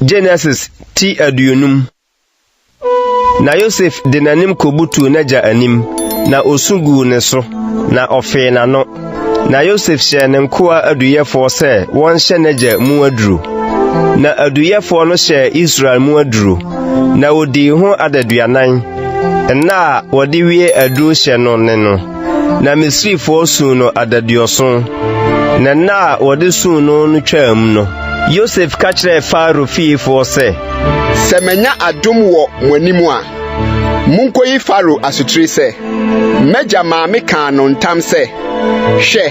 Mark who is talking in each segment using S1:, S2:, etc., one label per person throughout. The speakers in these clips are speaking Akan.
S1: Genesis ti aduonum Na Yosef de n'anim kobutuu n'agya anim, na osu guu ne so, na ɔfee n'ano. Na Yosef hyɛɛ ne nkoa aduyɛfoɔ sɛ wɔnhyɛ n'agya mu aduro. Na aduyɛfoɔ no hyɛɛ Israel mu aduro, na odii ho adaduanan Nna a wɔde wie aduru hyɛ no ne no, na Misrifoɔ suu no adaduɔson. Na nna a wɔde suu no no twaam no, Yosef ka kyerɛɛ Farao fiefoɔ sɛ, Sɛ manya
S2: adom wɔ mo anim a, monkɔyi Farao asotire sɛ, 'M'agya maa mekaa no ntam sɛ, Hwɛ,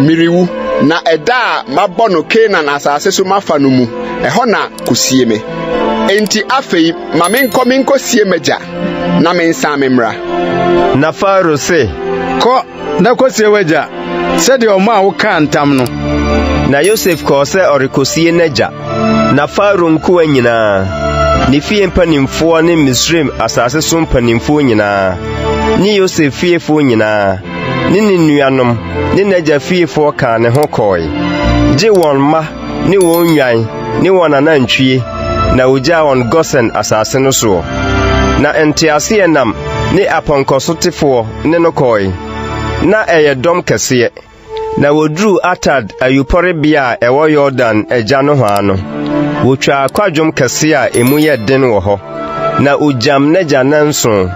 S2: merewu, na ɛda a mabɔ no Kanaan asase so mafa no mu, ɛhɔ na kosie me. Enti afei Ma menkɔ minkosie m'agya, na mensan memmra. Na Farao
S1: se. Kɔ
S3: na kosie w'agya, sɛdeɛ ɔmaa wo kaa ntam no. Na Yosef
S1: kɔɔ sɛ ɔrekosie n'agya. Na Farao nkoa nyinaa, ne fie mpanimfoɔ ne Misraim asase so mpanimfoɔ nyinaa, ne Yosef fiefoɔ nyinaa, ne ne nuanom, ne n'agya fiefoɔ kaa ne ho kɔɔe, gye wɔn mma ne wɔn nnwan ne wɔn anantwie na ogyaa wɔn Gosen asase no soɔ. Na nteaseɛnam ne apɔnkɔsotefoɔ ne no kɔɔe. Ná ɛyɛ dɔm kɛseɛ. Na wɔduruu Atad ayupɔrebea a ɛwɔ Yordan agya nohoa no, wɔtwaa kwadwom kɛseɛ a emu yɛ den wɔ hɔ, na ogyam n'agya nnanson.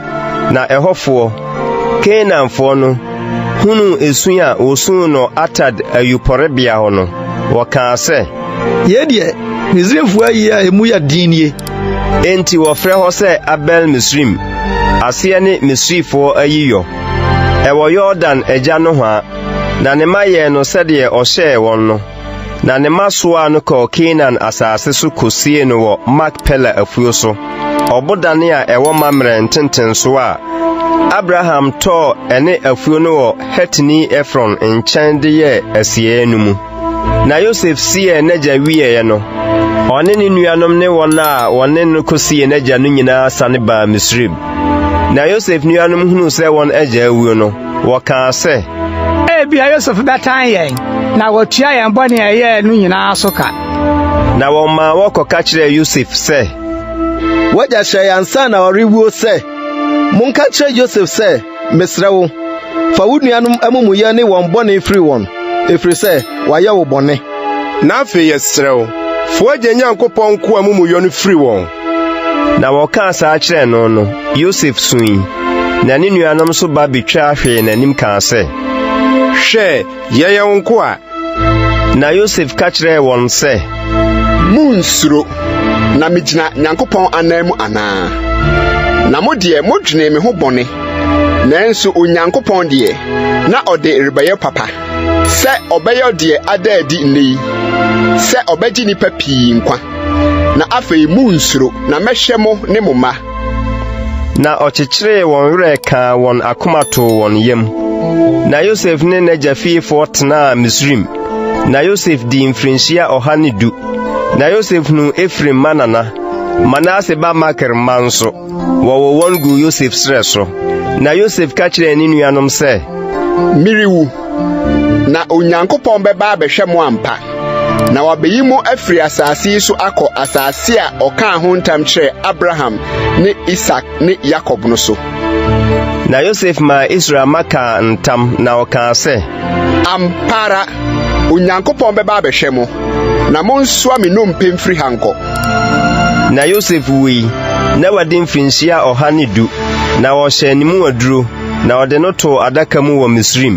S1: Na ɛhɔfoɔ, Kanaanfoɔ no, hunuu esu a wɔsuu no Atad ayupɔrebea hɔ no. Wɔkaa sɛ, Yei deɛ,
S3: Misraimfoɔ ayie a emu yɛ den nie. Enti wɔfrɛ
S1: hɔ sɛ Abel-Misraim, aseɛ ne Misrifoɔ ayiyɔ. Ɛwɔ Yordan agya nohoa, na ne mma yɛɛ no sɛdeɛ ɔhyɛɛ wɔn no. Na ne mma soaa no kɔɔ Kanaan asase so kɔsiee no wɔ Makpela afuo so. Ɔbodane a ɛwɔ Mamrɛ ntentensoɔ a Abraham tɔɔ ɛne afuo no wɔ Hetini Efron nkyɛn de yɛɛ asieeɛ no mu. Na Yosef siee n'agya wieeɛ no, ɔne ne nuanom ne wɔn a wɔne no kɔsiee n'agya no nyinaa sane baa Misraim. Na Yosef nuanom hunuu sɛ wɔn agya awuo no, wɔkaa sɛ, Ebia Yosef
S4: bɛtan yɛn na watua yɛn bɔne a yɛyɛɛ no nyinaa so ka. Na wɔmaa
S1: wɔkɔka kyerɛɛ Yosef sɛ. W'agya
S5: hyɛe ansa na ɔrewuo sɛ, Monka nkyerɛ Yosef sɛ, 'Mesrɛ wo, fa wo nuanom amumuyɛ ne wɔn bɔne firi wɔn, ɛfiri sɛ wɔayɛ wo bɔne. Na afei
S2: yɛsrɛ wo, fa w'agya Nyankopɔn nkoa amumuyɔ no firi wɔn. Na
S1: wɔkaa saa kyerɛɛ no no, Yosef sui, na ne nuanom nso ba bɛtwa hwee n'anim kaa sɛ, Hwɛ,
S2: Yɛyɛ wo nkoa. Na
S1: Yosef ka kyerɛɛ wɔn sɛ. Munnsuro,
S2: na migyina Nyankopɔn ananmu anaa? Na mo deɛ modwenee me ho bɔne, nanso Onyankopɔn deɛ, na ɔde rebɛyɛ papa, sɛ ɔbɛyɔ deɛ ada adi nnɛ yi, sɛ ɔbɛgye nnipa pii nkwa. Na afei munnsuro, na mɛhwɛ mo ne mo mma. Na
S1: ɔkyekyeree wɔn werɛ kaa wɔn akoma too wɔn yam. Na Yosef ne n'agya fiefoɔ tenaa Misraim. Na Yosef dii mfirinhyia ɔha ne du. Na Yosef hunuu Efraim ma nana, Manase ba Makir mma nso, wɔwɔ wɔn guu Yosef serɛ so. Na Yosef ka kyerɛɛ ne nuanom sɛ, Merewu,
S2: Na Onyankopɔn bɛba abɛhwɛ mo ampa, na wabeyi mo afiri asase yi so akɔ asase a ɔkaa ho ntam kyerɛɛ Abraham ne Isak ne Yakob no so. Na
S1: Yosef maa Israel mma kaa ntam, na ɔkaa sɛ, Ampa ara,
S2: Onyankopɔn bɛba abɛhwɛ mo, na monsoa me nnompe mfiri ha nkɔ. Na
S1: Yosef wui, na wadi mfirinhyia ɔha ne du, na wɔhyɛɛ ne mu aduro. Na ɔde no too adaka mu wɔ Misraim.